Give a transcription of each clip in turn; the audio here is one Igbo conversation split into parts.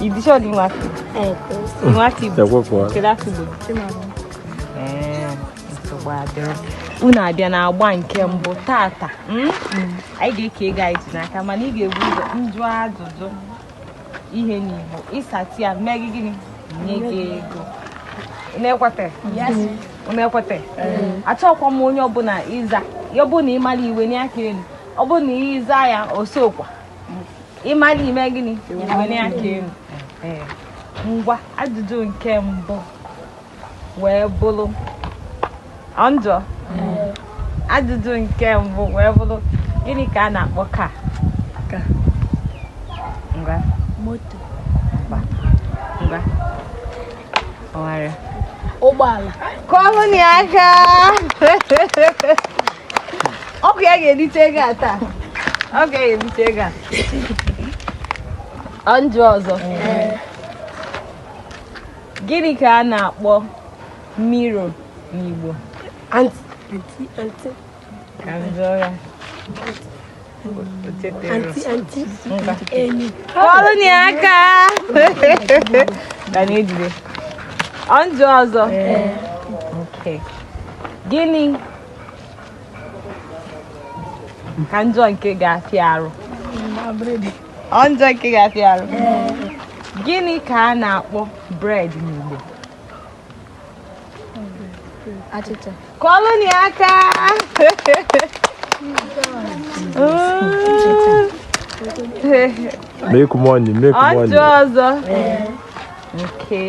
Idisho ni wapi? Eh, ni wapi? Itakuwa kwa. Kila kibu. Eh, mtobadero. Unu abịa n'agba nke mbụ tata. Hmm? Anyị ga-eke ego anyị ji n'aka mana ị ga-ebu ụzọ njụ ajụjụ ihe n'Igbo ị zata ya mee gị gịnị nye gị ego. Unu ekwete? Yes. Unu ekwete? Achọkwa m onye ọbụla ịza ya. Ọ bụ na ị mara i wenie aka elu. Ọ bụrụ na ị za ya osokwa. ị mara i mee gịnị wenie aka elu ngwa ajụjụ nke mbụ wee bụrụ ọ m jụọ ajụjụ nke mbụ wee bụrụ gịnị ka a na-akpọ car ngwa moto ngwa ọgharịa ụgbọala kụọlụ ya aka ọ bụ ya ga-erite ego a taa ọ ga-erite ego a ọ m jụọ ọzọ gịnị ka a na-akpọ mirror n'Igbo ka m jụọ ya kụọlụnụ ya aka ga na-ejide ọ m jụọ ọzọ gịnị ka m jụọ nke ga-afịa arụ ọ m jụọ nke ga-afịa arụ gịnị ka a na-akpọ bread n'Igbo achịcha kụọlụnụ ya aka make money make money ọ m jụọ ọzọ okay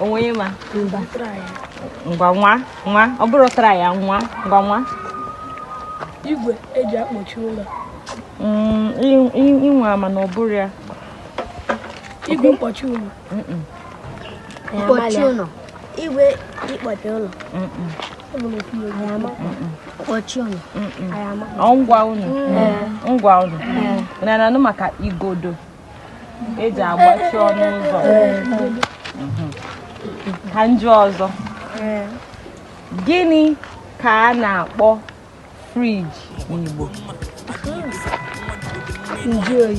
o nwe onye ma ngwa nwa nwa ọ bụrụ tara ya nwa ngwa nwa igwe eji akpọchi ụlọ mm, ị nwaa mana ọ bụrọ ya igwe mkpọchi ụlọ mkpọchi ụlọ igwe ịkpọchi ụlọ mkpọchi ụlọ ngwa ụlọ ngwa unu na-anụ maka igodo eji agbachi ọnụ ụzọ ka m jụọ ọzọ gịnị ka a na-akpọ fridge n'Igbo njụ oyi